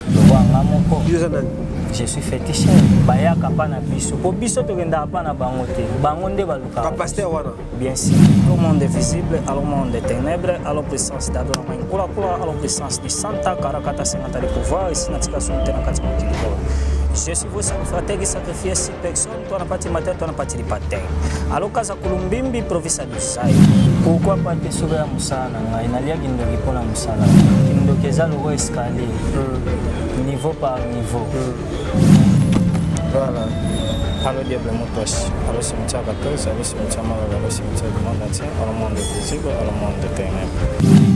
lokola nga moko je suis féticheur bayaka mpa na biso mpo biso tokendaka mpa na bango te bango nde balukaka bapaster wana bien sûr le monde est visible alors monde des ténèbres alors puissance d'adona mai nkulakula alors puissance du santa karakata sengata le pouvoir esi na tika somo te na kati mokili oyo je suis vos sacrificateur qui sacrifie si personne Twana pati mate twana pati lipate alokaza kulumbimbi provisa dosai kokwa pate soka ya mosala na ngai nalia kindoki mpo na mosala kindoki eza loko escalier hmm. niveau par niveau hmm. voilà alo diable motosi alo cimetière 14 alo cimetière malala alo cimetière du monde entier alo monde visible alo monde de ténèbres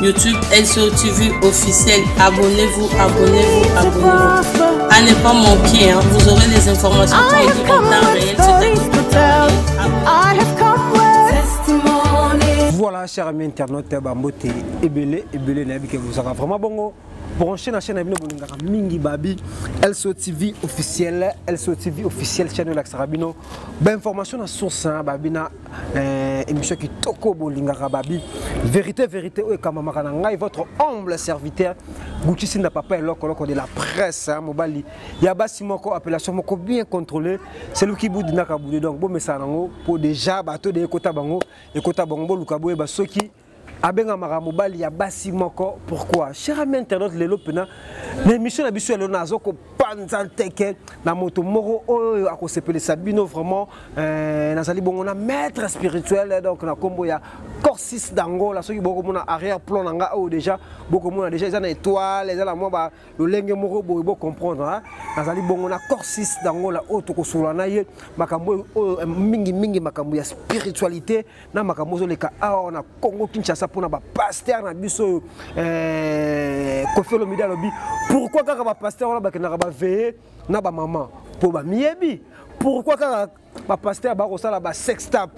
YouTube SOTV officiel. Abonnez-vous, abonnez-vous, abonnez-vous. À ne pas manquer, hein. vous aurez les informations en temps réel. Voilà, chers amis internautes, Bambote, Ebele, Ebele, Nabi, que vous avez vraiment bon. branche na chaîne na bino bolingaka mingi babi lso tv officiel lso tv officiel chaîne elakisaka bino bainformation na source na babi na Eh, émission kitoko bolingaka babi vérité vérité oyo ekamamaka na ngai votre humble serviteur gucci sinda papa eloko loko de la presse hein, mobali ya basi moko appellation moko bien contrôlé celui qui boudinaka boude donc bomesana yango mpo déjà bato de ekota bango ekota bango boluka boyeba soki abengamaka mobali ya basi moko pourquoi cher ami internaute lelo mpena na émission na biso ya lelo nazo kopanza nteke na moto moko oyo akosepelisa bino vraiment euh, nazali bongo na maître spirituel donc na nkombo ya corsis d'angola soki bokomona arrière plan na nga oyo déjà bokomona déjà eza na étoile eza na mwa ba lolenge moko boye bocomprendre hein? nazali bongo na corsis d'angola oyo tokosolola na ye makambo oyo euh, mingimingi makambo ya spiritualité na makambo ozoleka awa na congo kinshasa mpona bapaster na biso oyo eh, kofi olomide alobi pourkui kaka bapaster wana bakendaka baveye na bamama mpo bamiyebi pourkui kaka bapaster bakosala basextap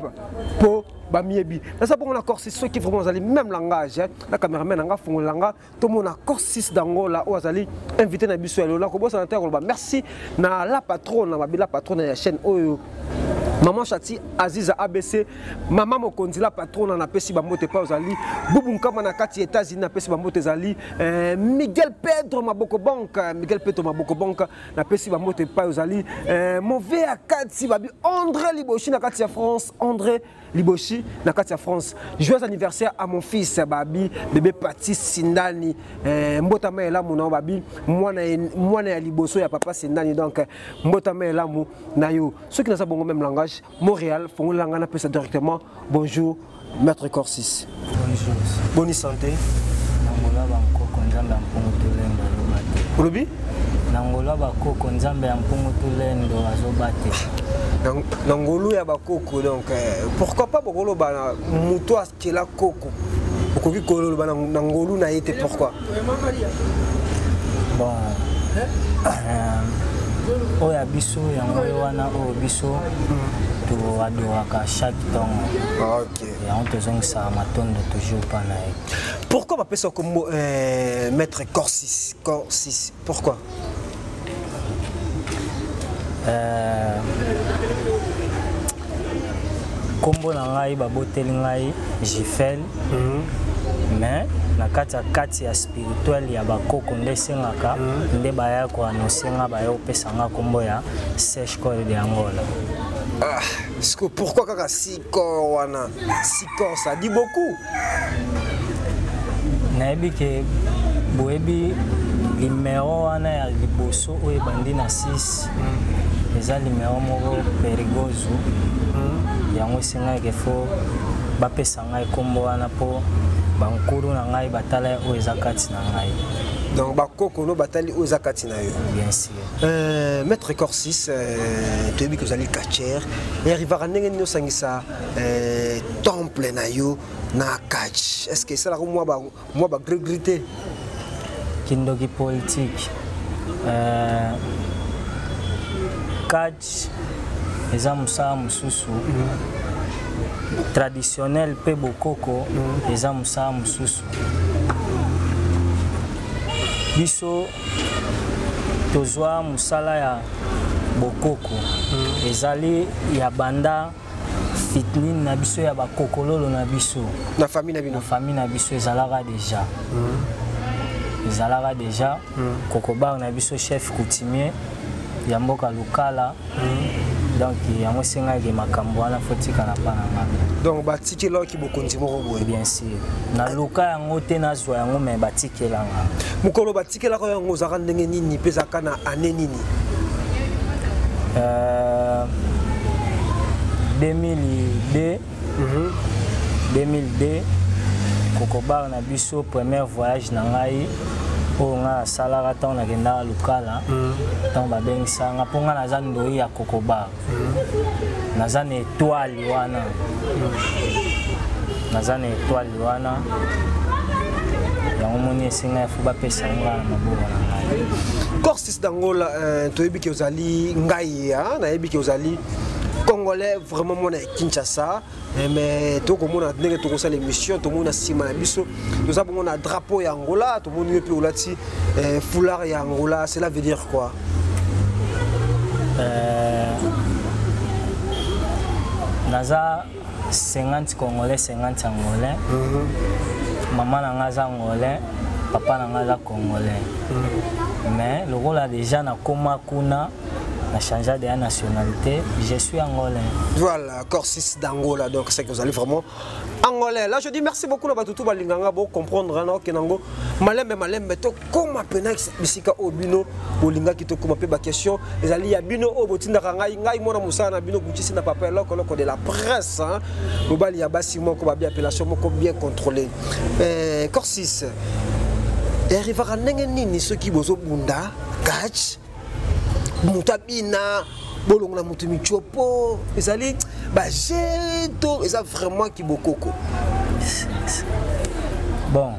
mpo bamiyebi naza bongo na corsi soki vraiment ozali même langage na cameraman nanga afongolela nga tomona corsis d'angola oyo azali invité na biso ya lelo nakobosana te ya koloba merci na la patrone na babila patrone ya chaîne oyo maman chati aziza abc mama mokonzi la patrona napesi bambote epai ozali bubu nkama na kati ya états-unis napesi bambote ezali eh, miguel pedro maboko bank miguel pedro maboko bank napesi bambote epai ozali eh, move ya kati babi andré liboshi na kati ya france andré liboshi na kati ya france joyeux anniversaire à mon fils babi bebe pati sindani eh, mbotama ya elamu na yo babi mwana, mwana ya liboso ya papa sindani donc eh, mbotama ya elamu na yo soki naza bongo même langage montréal fongolela ngai napesa directement bonjour maître corsis Bonjour. Bonne santé. Nangola bankoko nzambe ya mpungu tolendo aloba te. Olobi? Nangola bakoko nzambe ya mpungu tolendo azoba te. Na ngolu ya bakoko donc eh, pourquoi pas bokoloba na moto akela koko okoki koloba na ngolu na ye te pourquoi bon euh, oyo ya biso yango oyo wana oyo biso mm. toadoraka chaque ntongo yango tozongisa matondo toujours mpa na ye pourquoi bapesa kombo euh, maître corsis corsis pourquoi euh, kombo na ngai baboteli ngai jifel mhm. mais na kati ya kati ya spirituel ya bakoko nde esengaka mhm. nde baya koanonse nga baya kopesa nga kombo ya sechcol de angola ah, pourquoi kaka si Corps wana, si corps ça dit beaucoup. Nayebi que boyebi numéro wana ya liboso oyo ebandi na 6 mm. eza numéro moko perigozo mm. yango esengaki fo bapesa ngai nkombo wana mpo bankulu na ngai batala oyo eza kati na ngai donc bakoko no batali oyo eza kati na yo bien sûr Euh, maître corsis euh, toyebi que ozali catcher erivaka ndenge nini osangisa euh, temple na yo na catch est ce que esalaka mwa bagregri te kindoki politique euh, catch eza mosala mosusu traditionnel mpe bokoko eza mosala mosusu biso tozwa mosala ya bokoko mm. ezali ya banda fitnine na biso ya bakokololo na biso na famille na bino famille na biso ezalaka deja mm. ezalaka deja mm. kokobar na biso chef coutumier ya mboka lokala donc yango esengaki makambo wana fotika na bana nga donc batikelaki bokonzi moko boye bien sûr naluka yango te nazwa yango me batikela nga mokolo batikelaka yango ozalaka ndenge nini mpe ezalaka na ane nini euh, 2002 2002 kokobar na biso premier voyage na ngai oyo ngai nasalaka ntango nakendaka lokala mm. ntango babengisa nga mpo ngai naza ndoi ya kokobar mm. naza na etoile wana mm. naza na etoile wana yango moni esenga efo bapesa nga na maboko na ngai corsis d'angola euh, toyebi ke ozali ngai nayebi ke ozali congolais vraiment mwana Kinshasa eh, mais tokomona ndenge tokosala émission tomoni na nsima na biso toza bongo na drapeau ya Angola tomoni yo mpe olati eh, foulard ya Angola cela veut dire quoi euh, naza 50 congolais 50 angolais mm -hmm. mama na nga aza angolais papa na nga aza congolais mm -hmm. mais lokola deja nakoma kuna na changea deya nationalité je suis angolais voilà corsis d'angola donc c'est que vous allez vraiment angolais là je dis merci beaucoup na bato tu balinga nga bocomprendre na okende yango malembe malembe tokóma mpena bisika oyo bino bolingaki tokóma mpe baquestion ezali ya bino oyo botindaka ngai ngai mwana mosala na bino gutisi na papa eloko eloko de la presse mobali ya basi moko babi appellation moko bien contrôlé eh, corsis erivaka ndenge nini soki bozobunda catch moto abina bolongola moto mitiopo ezali baje to eza vraiment kibokoko bon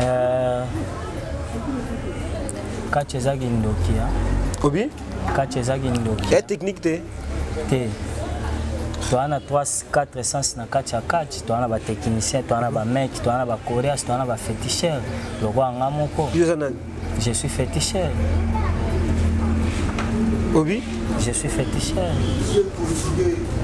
euh, kati eza kindoki obi kati eza kindoki ya technique te te toza na 4 sens na kati ya kati toza na batechnicien toza na bameki toza na bacoreas toza na bafeticheur lokola nga moko Je suis féticheur. Obi Je suis féticheur.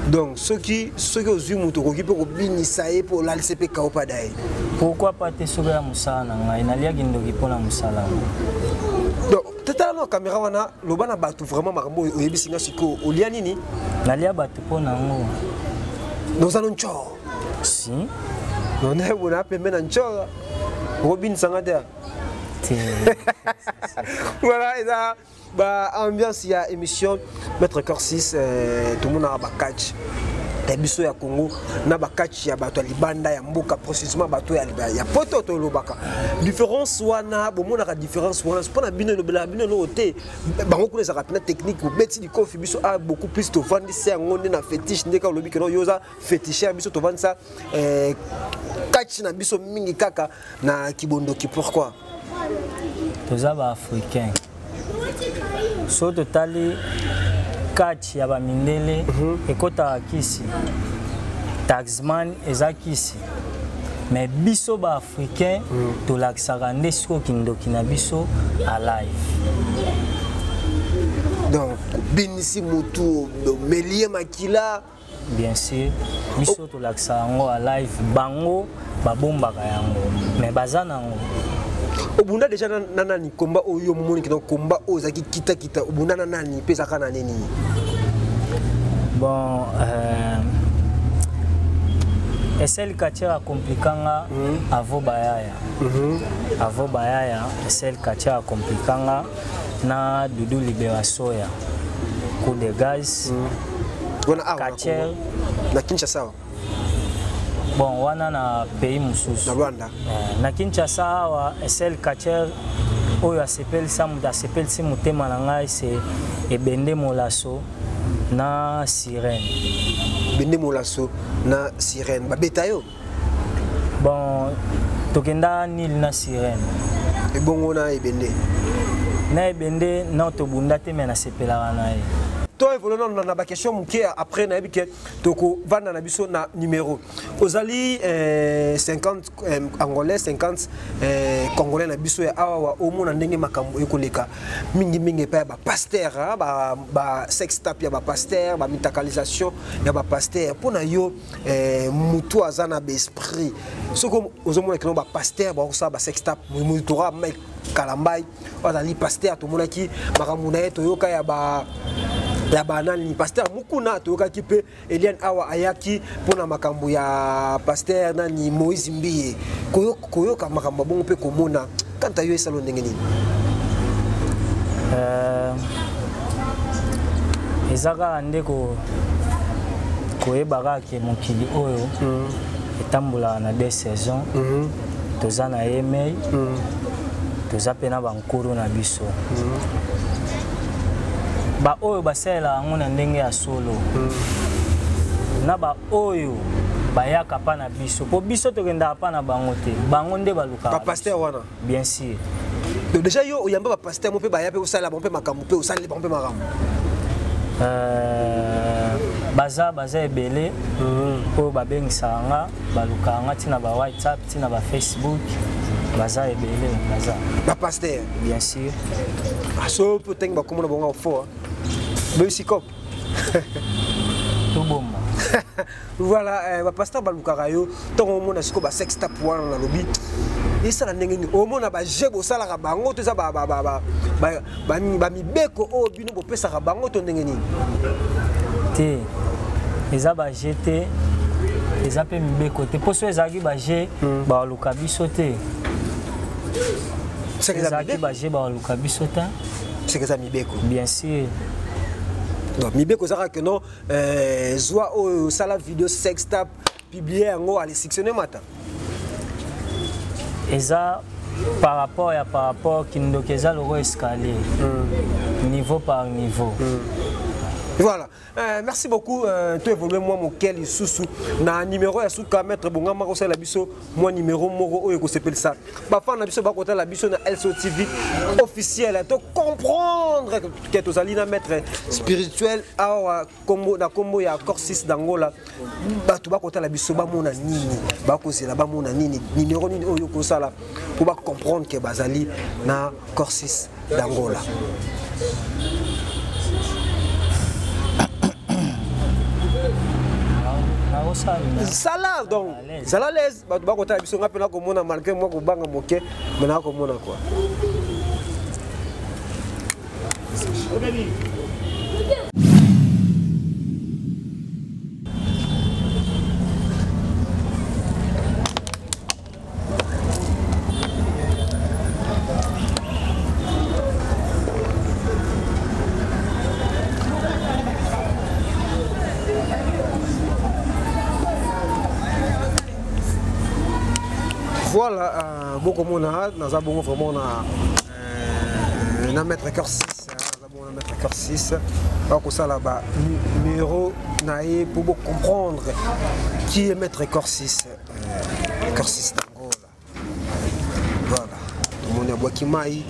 Donc, ceux qui, ceux qui ont vu mon tour, qui peuvent binisaye pour l'alcepe kaopadaye. Pourquoi pas te sauver à Moussa Nanga Il n'a gindogi pour la Moussa Donc, tata la caméra wana loba na batu vraiment makambo oyebisi nga siko olia nini nalia batu mpo na yango noza no ncor si nonayebona apembe na ncor okobinisa nga te voilà eza ba ambiance ya émission maître corsis euh, tomonaka ba catch ya biso ya congo na bakati ya bato ya libanda ya mboka processement bato ya, ya poto tolobaka différence wana bomonaka différence wana mpo na bino elobelaka bino eloko te bango kuna ezalaka mpena technique obeti likofi biso a ah, beaucoup plus tovandisa yango nde na fétiche ndeka olobi keno yo oza fétiche ya biso tovandisa eh, kati na biso mingi kaka na kibondoki pourquoi toza ba africain so totali catch ya bamindele mm -hmm. ekotaka kisi taxman eza kisi me biso baafricain mm. tolakisaka nde sikoyo kindoki na biso alive donc binisi motu omelie makila bien sûr biso tolakisa yango a live bango babombaka yango me baza nango obunda deja na, na nani komba oyo yo momoni kino komba oyo ozalaki kitakita obunda na nani mpe ezalaka na nini bon euh, esel katiara komplika nga mm -hmm. avo bayaya mm -hmm. avo bayaya esel katiara komplika nga na dudu libera soya coup de gaz wana awa na Kacher. Congo. na kinshasa awa bon wana na pays na mosusu rwanda Eh, na kinshasa awa sel catcher oyo asepelisa moto asepelisi motema na ngai se ebende molaso na sirene bende molaso na sirene babeta yo bon tokenda nil na sirene ebongo na ebende na ebende na tobunda te me nasepelaka na ye to evole nano na baquestion moke après nayebi ke tokovanda na biso na numero ozali 50 eh, eh, angolais 50 eh, congolais na biso ya awa omona ndenge makambo ekoleka mingimingi epai ya bapaster basex tap ya bapaster bamitakalisation ya bapaster mpo na yo eh, mutu aza na baesprit soki ozomona kino bapaster bakosala basextap motora mike kalambai azali paster tomonaki makambo na ye toyoka ya ba ya banani paster mukuna toyokaki mpe eliane awa ayaki mpo na makambo ya paster nani moïse mbiye koyoka makambo ya bongo mpe komona Quant à yo esalo ndenge nini? Euh eza kaka nde ko koyeba kaka ke mokili oyo mm. etambolaka na deux saison mm -hmm. toza na yemei mm. toza mpe na bankuru na biso mm. baoyo basalelaka yango na ndenge ya solo mm. na baoyo bayaka mpa na biso mpo biso tokendaka mpa na bango te bango nde ba pasteur wana bien sûr donc déjà yo oyamba ba pasteur mo pe ba ya pe osala bon pe makambo pe osala bon pe makambo euh baza baza ebele mhm. oyo babengisaka nga balukaka nga ntina ba whatsapp ntina ba facebook baza ebele baza bapaster bien sûr aso ah, mpe otangi bakomona bongo fo bebisi cop tobomba voilà eh, bapasteur balukaka yo ntango omona sikoyo basextap wana nalobi esala ndenge nini omona baje bosalaka bango to eza bamibeko oyo oh, bino bopesaka bango to ndenge nini te eza baje te eza mpe mibeko te mpo so ezalaki baje hmm. baluka biso te ezalaki baje baluka biso te soki eza mibeko bien sûr donc mibeko eza kaka keno euh, zwa oyo osala video sextap publie yango alesictionne mata eza par rapport ya par rapport kindoki eza lokola escalier mm. niveau par niveau mm. voilà Euh, merci beaucoup euh, to évoluer mwa moke lisusu na numéro ya suka maître bongama kosala biso mwa numéro moko oyo ekosepelisa bafan na biso bakotala biso na lco tv officiel to comprendre ke tozali na maître spirituel awa na nkombo ya corsis d'angola bato bakotala biso bamona nini bakozela bamona nini nimero nini oyo okosala mpo bacomprendre ke bazali na corsis d'angola sala donc zala bato bakotala biso ngai mpe nakomona malgre mwa kobanga moke me nakomona kua voilà euh, bokomona naza bongo vraiment na euh, na maître cœur 6 naza bongo na maître cœur 6 bakosala ba numero na ye mpo bocomprendre qui est maître cœur 6 euh, cœur 6 Voilà. Tomoni abwaki mai,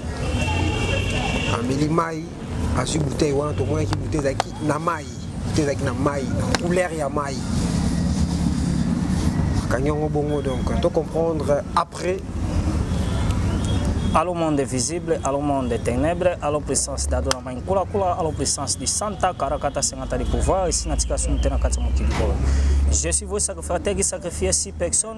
ameli mai, azwi bouteille wana tomonaki bouteille ezalaki na mai, bouteille ezalaki na mai, na couleur ya mai. Akangi yango bongo donc to comprendre après Allô monde visible, allô monde des ténèbres, allô puissance d'Adona Mankula Kula, allô puissance du Santa, Karakata Sengata du pouvoir, ici Natika Sumtena Katsamokili. Je suis vos sacrificateurs qui sacrifiez six personnes.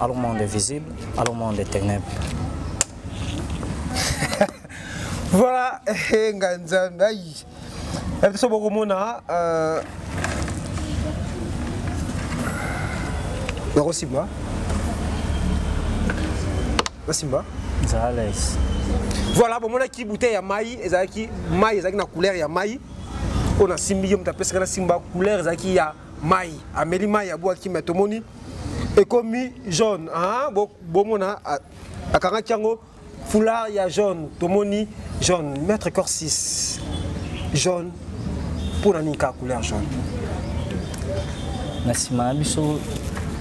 Allons monde visible, allons monde des ténèbres. voilà, eh, nga nzambe ayi. Eh, biso bokomona euh Nakosimba. Nasimba. Zales. Voilà, bomonaki bouteille ya mai ezalaki mai ezalaki na couleur ya mai oyo nasimbi ye moto apesaka nasimba couleur ezalaki ya mai ameli mai ya bwaki mai tomoni ekomi jaune ah, bomona akangaki yango foulard ya jaune tomoni jaune maître corps 6 jaune mpo na nini kaka couleur jaune na nsima na biso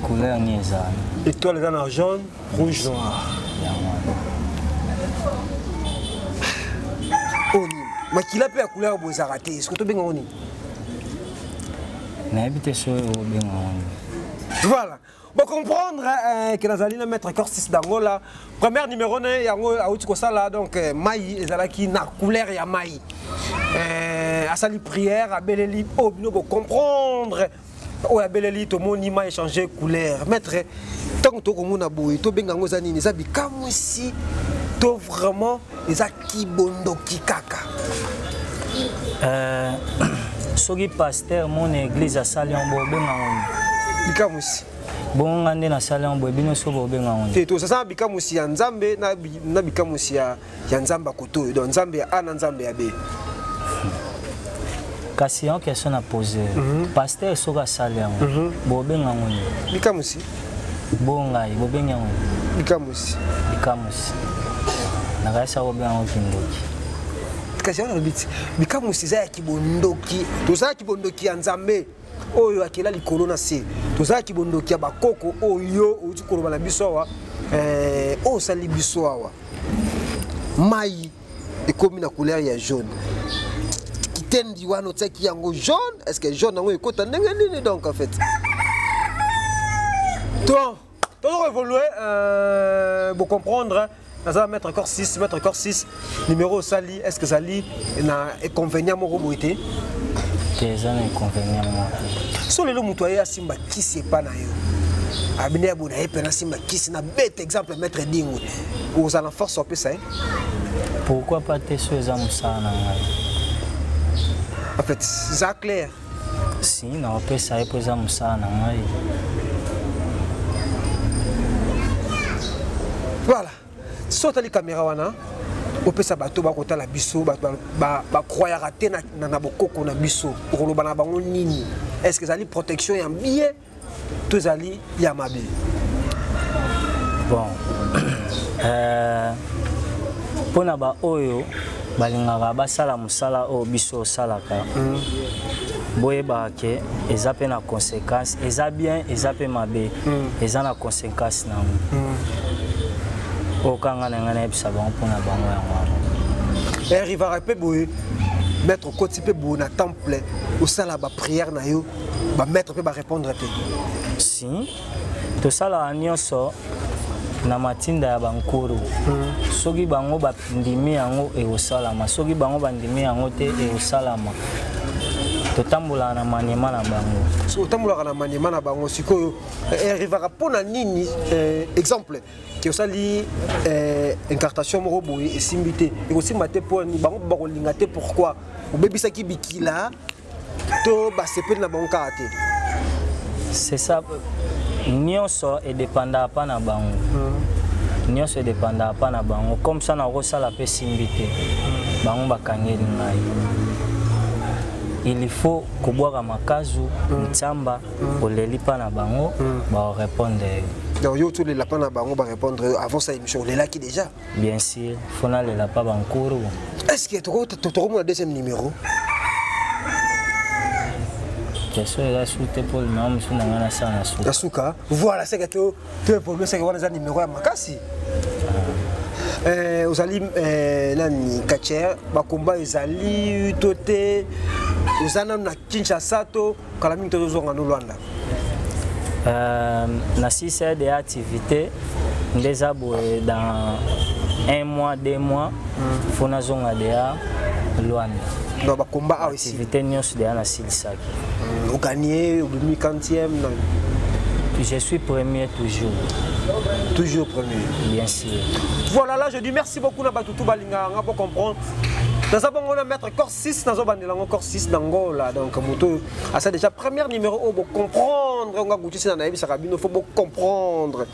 couleur nini eza étoile eza na jaune rouge noir oyo oh, nini makila mpe ya couleur boezaka te eske tobenga ngo nini nayebi te soki obenga yango voilà bocomprendre eh, ke nazali na maître corsis dangola première numéro na ye yango auti kosala donc eh, mai ezalaki na couleur ya mai eh, asali prière abeleli oyo oh, bino bocomprendre oyo abeleli tomoni ma échange couleur maître ntango tokomona boye tobenga yango eza nini eza bikamwisi to vraiment eza kibondoki kaka euh, soki paster mona église asali yango bobenga yango bikamwisi bonga nde nasali yango boye bino so bobenga yango te tosasala bikamwisi ya nzambe na bikamwisi ya ya nzambe ya koto oyo donc nzambe ya a na nzambe ya b kasi yango question na pose mm -hmm. paster soki asali yango mm -hmm. bobenga yango nini likamusi bo ngai bobengi yango likamusi likamusi nakayisa bobenga yango kindoki kasi yango nalobi ti likamusi eza ya kibondoki toza ya kibondoki ya nzambe oyo akela likolo na se tozala kibondoki ya bakoko oyo outi koloba na biso awa eh, oyo osali biso awa mai ekomi na couleur ya jaune kitendi wana otiaki yango jaune est ce que jaune yango ekota ndenge nini donc en fait to tozoko évolue euh, bocomprendre naza mettre corps 6 mettre corps 6 numéro osali est ce que ezali na inconvénient moko boye te te eza na inconvénient moko so lelo moto aye asimba kisi epa na yo abine ya bona ye mpe nasimba kisi na bete exemple maître dingo ozala force opesa ye pourquoi pas te so eza mosala na ngai en fait eza claire si naopesa ye mpo eza mosala na ngai voilà so otali kamera wana opesa bato bakotala biso bato bakroyaka te na bokoko na biso okoloba na bango nini est ce que ezali protection ya bien to ezali ya mabe bon euh, mpo na baoyo balingaka basala mosala oyo biso osalaka mm. boyebaka ke eza mpe na conséquence eza bien eza mpe mabe mm. eza na conséquence na yango mm. oyo kanga na ngai nayebisa bango mpo na bango yango wana erivaka eh, mpe boye maître okoti mpe boye na temple osala baprière na yo ba maître pe ba répondre te si tosalaka nyonso na matinda ya bankuru hmm. soki bango bandimi yango ekosalama soki bango bandimi yango te ekosalama totambolaka na maniema na bango soki otambolaka na maniema na bango sikoyo eh, erivaka mpo na nini eh, exemple ke osali eh, incartation moko boye esimbi te ekosimba te mpo bango bakolinga te pourquoi obebisaki bikila to basepeli na bango kaka te c'est ça nyonso edependaka mpa na bango hmm. nyonso edependaka mpa na bango comme ça nakosala mpe simbi te hmm. bango bakangeli ngai il faut kobwaka makazu hmm. nsamba oleli mpa na bango baorepondre yo donc yo otolela mpa na bango barepondre yo avant sa émission olelaki déjà Bien sûr, faut aller là pas Bankuru. Est-ce que tu as le deuxième numéro question eza su te mpo limama mosusu na ngai nasala na suka na suka voilà seke to to évolue seke wana eza nimero ya makasi eh, ozali eh, nani kacher bakomba ezali to te oza nano na kinshasa to kala mingi tozozonga no lwanda euh, na sised ya activité nde eza boye dans un mois deux mois mm. fo nazonga deya lwanda donc bakomba awa activité nyonso deya nasilisaki mm, oganie obimi quantième na je suis premier toujours toujours premier bien sûr voilà là je dis merci beaucoup na bato tout balingaka nga bo comprendre naza bongo na maître corse 6 nazo bandela ngo encore 6 na ngola donc moto asa déjà première numéro oyo oh, comprendre nga gutisi na nayebisaka bino faut comprendre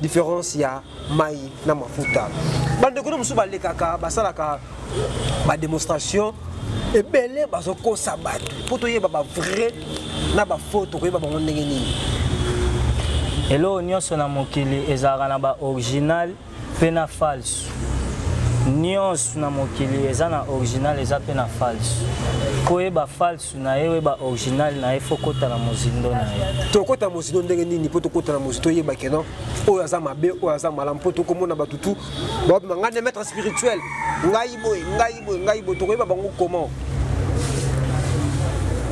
différence ya mai na mafuta bandeko no mosusu balekaka basalaka bademonstration ebele bazokosa bato mpo toyeba bavrai na bafaux tokoyeba bango ndenge nini eloko nyonso na mokili ezalaka na baoriginal mpe na falsu nyonso na mokili eza na original eza mpe na falsu koyeba falsu na ye oyeba original na ye fo kota na mozindo na ye tokota mozindo ndenge nini mpo tokota na mozindo toyeba keno oyo aza mabe oyo aza malamu mpo tokomona bato tu babima ngai na maître spirituel ngai boye ngai boye ngai boye tokoyeba bango comment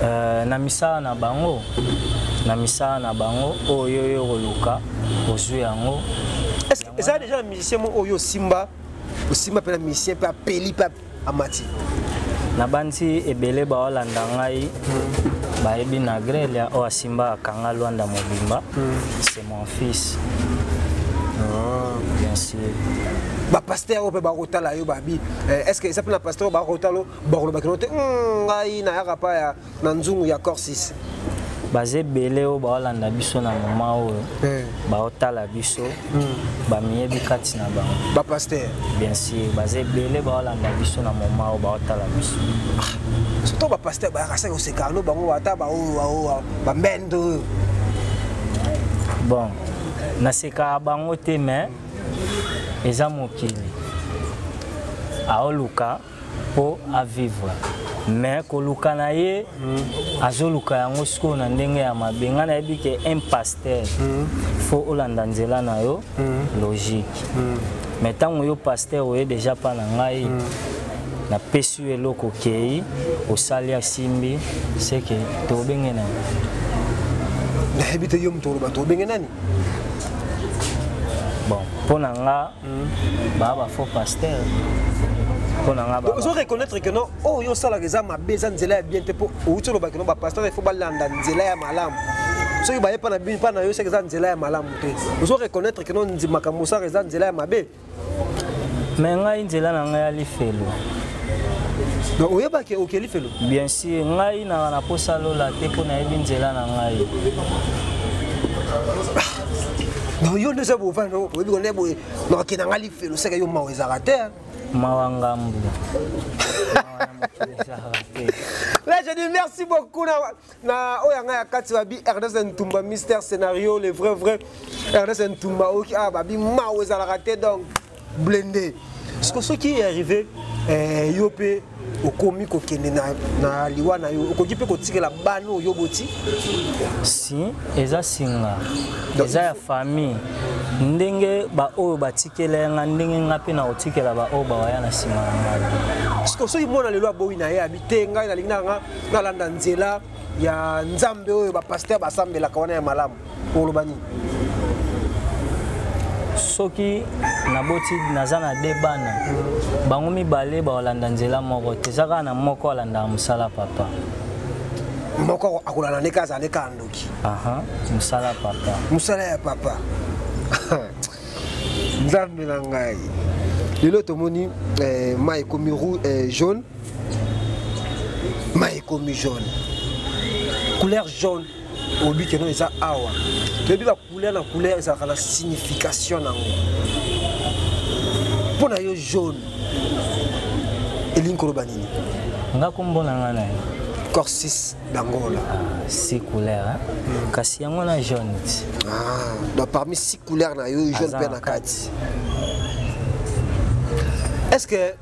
euh, na misala na bango na misala na bango oyo yo okoluka ozwi yango eza deja na musicien moko oyo osimba osimba mpe na musicien mpe apeli mpe amati nabanzi ebele baolanda ngai hmm. bayebi na grelia oyo asimba akanga lwanda mobimba hmm. c'est mon fils ah. bien sûr bapaster oyo mpe bakotala yo babi eh, est ce que eza mpe na paster oyo bakotala bakolobakino te hmm, ngai nayaka pa ya na nzungu ya corsis baza ebele oyo baolanda biso na moma oyo eh. baotala biso hmm. bamiyebi kati na bango bapaster bien sûr baza ebele baolanda biso na moma oyo baotala biso ah, surtout bapaster bayaka saki oseka no bango ata baoyo bambende oyo bon nasekaka bango te mais eza mokili aoluka po a vivre mais koluka na ye mm. azoluka yango sikoyo na ndenge ya mabe ngai nayebi ke un pasteur mm. fo olanda nzela na yo mm. logique mm. mais ntango yo pasteur oye deja mpa na ngai mm. napesi yo eloko okei osali asimbi seke tobenge nani nayebi te yo moto oloba tobenge nani bon mpo na nga hmm. ba ba faux pasteur ozo reconnaître que non oyo oh, yo osalaka eza mabe eza nzela ya bien te mpo outi olobaki no bapasteur il faut balanda nzela ya malamu soki baye mpa na bino mpa na yo soki eza nzela ya malamu te ozo reconnaître que no makambo osaka eza nzela ya mabe me ngai nzela na ngai ya lifelo donc oyebaki oke lifelo Bien sûr, ngai na na posa lola te mpo nayebi nzela na ngai. Non, yo nde oza bova no oyebi kona boye nakokenda ngai lifelo seke yo mawa ezalaka te mawa ngambu Là, je dis merci beaucoup. na oyo yanga ya kati babi ernest ntumba mister scénario le vrai vrai ernest ntumba oyoki awa ah, babi mao ezalaka te donc blende siko soki arrivé eh, yo mpe okomi kokende na, na liwa na yo okoki mpe kotikela bana oyo boti si eza singa eza ya famille ndenge baoyo batikela yanga ndenge nga mpe nakotikela baoyo bawaya na nsima na ngai soki mwana lelo aboyi na ye te ngai nalingi nanga nalanda nzela ya nzambe oyo bapaster basambelaka wana ya malamu oloba nini soki naboti naza na de bana bango mibale bakolanda nzela moko te eza kaka na moko alandaka mosala papa moko akolanda nde kaka azala nde kaka ndoki mosala papa mosala ya papa nzambe na ngai lelo tomoni eh, mai ekomi eh, jaune mai ekomi jaune couleur jaune oyebi keno eza awa toyebi bacouleur na couleur ezalaka na signification na yango mpo na yo jaune elingi koloba nini nga kombo na nga na ye corsis d'angola ah, six couleur hein? mm. kasi yango na jaune ti ah, donc parmi six couleur na yo jaune mpe na kati est ce que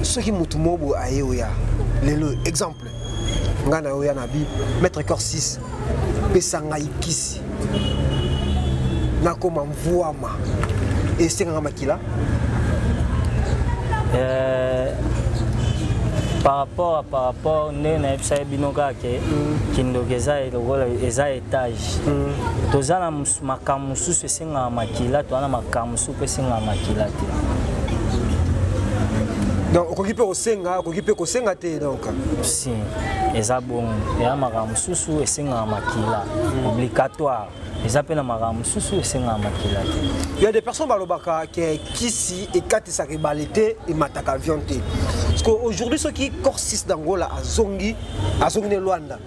soki motu moko boye aye oya lelo exemple ngai na oya na bi maître cor 6 pesa ngai kisi nakoma mvuama esengaka makila euh, par rapport à par rapport nde nayebisaki bino kaka ke mm. kindoki eza lokola eza étage mm. toza na makambo mosusu esengaka makila to wana makambo mosusu mpe esengaka makila te donc okoki mpe kosenga okoki mpe kosenga te donc si eza bongo eya makambo mosusu esengaka makila hmm. obligatoire eza mpe na makambo mosusu esengaka makila te ya des personnes balobaka ke kisi ekatisaka ebale te emataka avion te parce que aujourd'hui soki corsis d'angola azongi azongi ne lwanda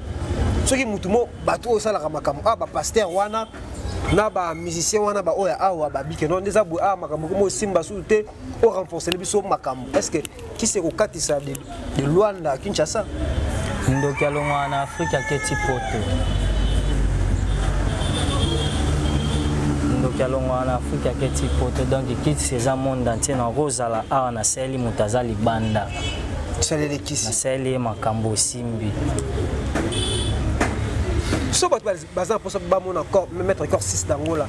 soki mutu mo bato oyo osalaka makambo awa ah, bapaster wana na bamusicien wana baoyo ya awa babike no nde eza boye awa ah, makambo komo osimba susu te o renforcele biso makambo est ce que kisi ekokatisa de luanda kinshasa ndoki alongwa na afrike aketi poto ndoki alongwa na afrike aketi poto donc kisi eza monde entier nakozala awa nasaleli moto aza libanda nasaleli ye makambo osi simbi so bato baza na mposa bamona maître corps 6 d'angola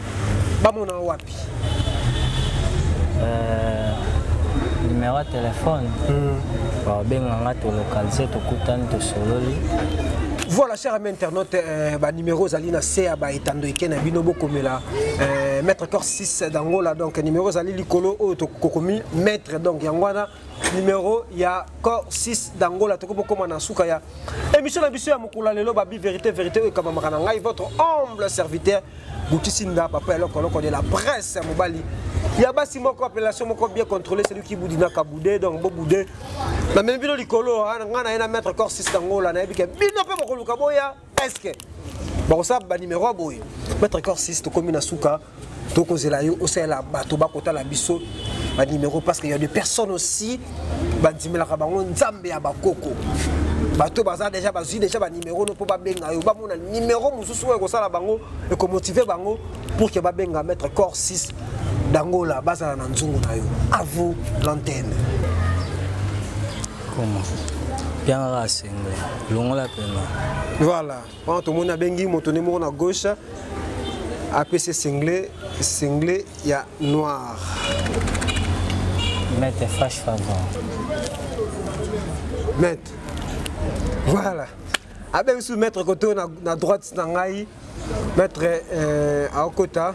bamona wapi euh, numéro ya telefone hmm. babenga nga tolokalize tokutani tosololi voilà cher ami internaute euh, banimero ozali na se ya baetando eke na bino bokomela euh, maître corps 6 d'angola donc nimero ezali likolo oyo tokomi maître donc yango wana numero ya cor 6 d'angola tokoki bokoma na nsuka ya émission na biso ya mokolo ya lelo babi verité verité oyo ekabamaka na ngai votre humble serviteur butisi nda papa ya lokoloko de la presse ya mobali ya basi moko appellation moko bien contrôlé celui qui boudi na kaboude donc boboude namemi bino likolo ngai na ye na maître cor 6 d'angola nayebi ke bino mpe bokoluka boya eske bakosala banimero ya boye maitre corsis tokomi na suka tokozela yo osalela bato bakotala biso banimero parce que ya de personnes aussi bandimelaka bango nzambe ya bakoko bato baza deja bazwi deja banimero no mpo babenga yo bamona nimero mosusu oyo ekosala bango ekomotive bango pour ke babenga maître corps 6 dangola bazala na nzungu na yo à vous l'antenne Comment Pianga Asengwe, longola pema. Voilà, wana tomoni abengi moto nde moko na gauche apesi single single ya noir. Mete flash favor. Mete. Voilà. Abengi su maître koto na, na droite na ngai maître euh, aokota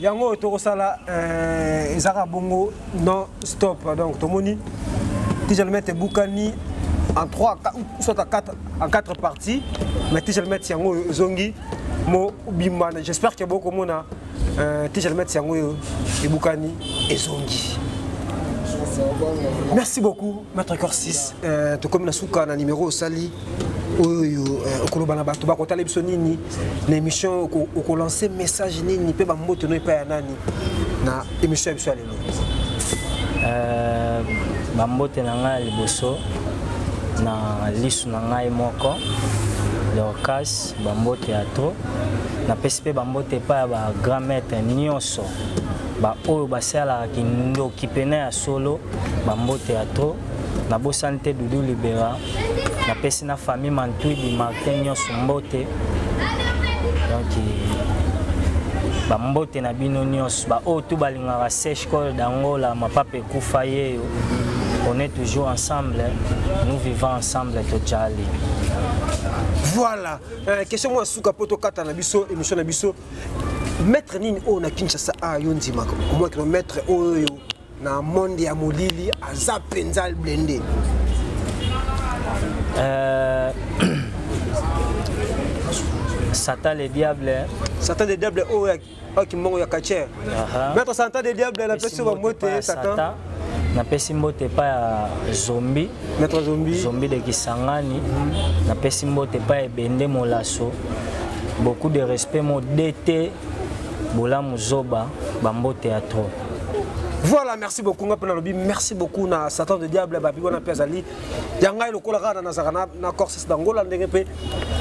yango oyo tokosala euh, ezaka bongo non stop donc tomoni tijalmet ebukani en 3 soit en 4 en 4 parties mais tijalmet yango oyo ezongi mobimba j'espère que bokomona euh, tijalmet yango oyo ebukani ezongi merci beaucoup maître corsis euh, tokomi na suka na numéro osali oyo euh, okoloba na bato bakotala biso nini na émission okolanse message nini mpe bamboto no epai ya nani na émission ya biso ya lelo euh, bambote na ngai ya liboso na lisu na ngai moko dorcas bambote ya to napesi mpe bambote epai ya bagrand maître nyonso baoyo basalaka kindoki mpena ya solo bambote ya to nabosani te dudu libera napesi na famille mantwidi martin nyonso mbote donc bambote na bino nyonso baoyo tu balingaka sèche col d'angola mapapa ekufa yeyo on est toujours ensemble nous vivons ensemble tojali voilà euh, question mwa suka mpo tokata na biso émission na biso maître nini oyo na kinshasa a yo ndimaka omwakino maître oyo na monde ya molili aza mpenza blende euh... satan le diable hein. satan le diable oyo oh, oyo kimbongo ya kacher maître satan le diable napesi bango te satan napesi mbote epai ya zombi maître zombi zombi de kisangani napesi mbote epai ebende molaso beaucoup de respect mo dt bolamu zoba bambote ya trop voilà merci beaucoup nga mpe nalobi merci beaucoup na satan de diable babi wana mpe azali ya ngai lokola kaka nazalaka na corses d'angola ndenge mpe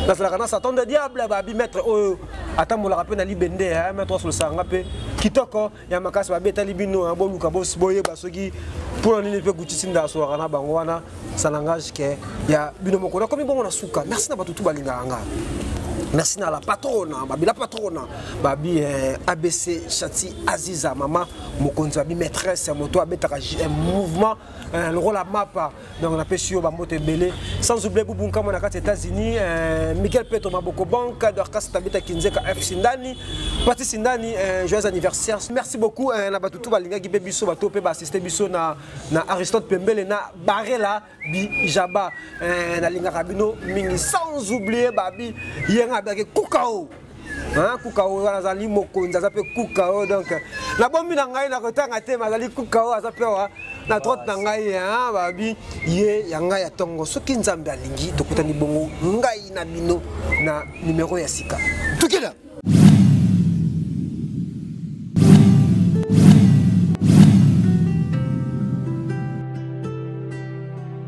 nazalaka na satan de diable babi maître oyo atambolaka mpe na libende ya maître osolosaka nga mpe kitoko ya makasi babetali bino hein, boluka boyeba soki mpo na nini mpe gutisi nda asolaka na bango wana ça langage ke ya bino moko nakomi bongo na suka merci na bato tu balingaka nga merci na la patrona babi la patrona babi eh, abc chati aziza mama mokonzi babi maîtresse moto abetaka eh, mouvement eh, lokola mapa donc napesi yo bamboto ebele sans oublie bubu nkama na kati ya états-unis euh, miguel peto maboko bank dorcas tabita kinzeka f sindani pati sindani euh, joyeux anniversaire merci beaucoup euh, na bato tu balingaki mpe biso bato mpe baassiste biso na, na aristote pembele na barela bijaba euh, nalingaka bino mingi sans oublie babi yenga abiaki kukao Hein, kuka oyo wana azali mokonzi aza mpe kuka oyo donc na bombi na ngai nakotanga te ma azali kuka oyo aza mpe wa na trotte na ngai hein, babi ye ya ngai ya ntongo soki nzambe alingi tokutani bongo ngai na bino na nimero ya sika tukila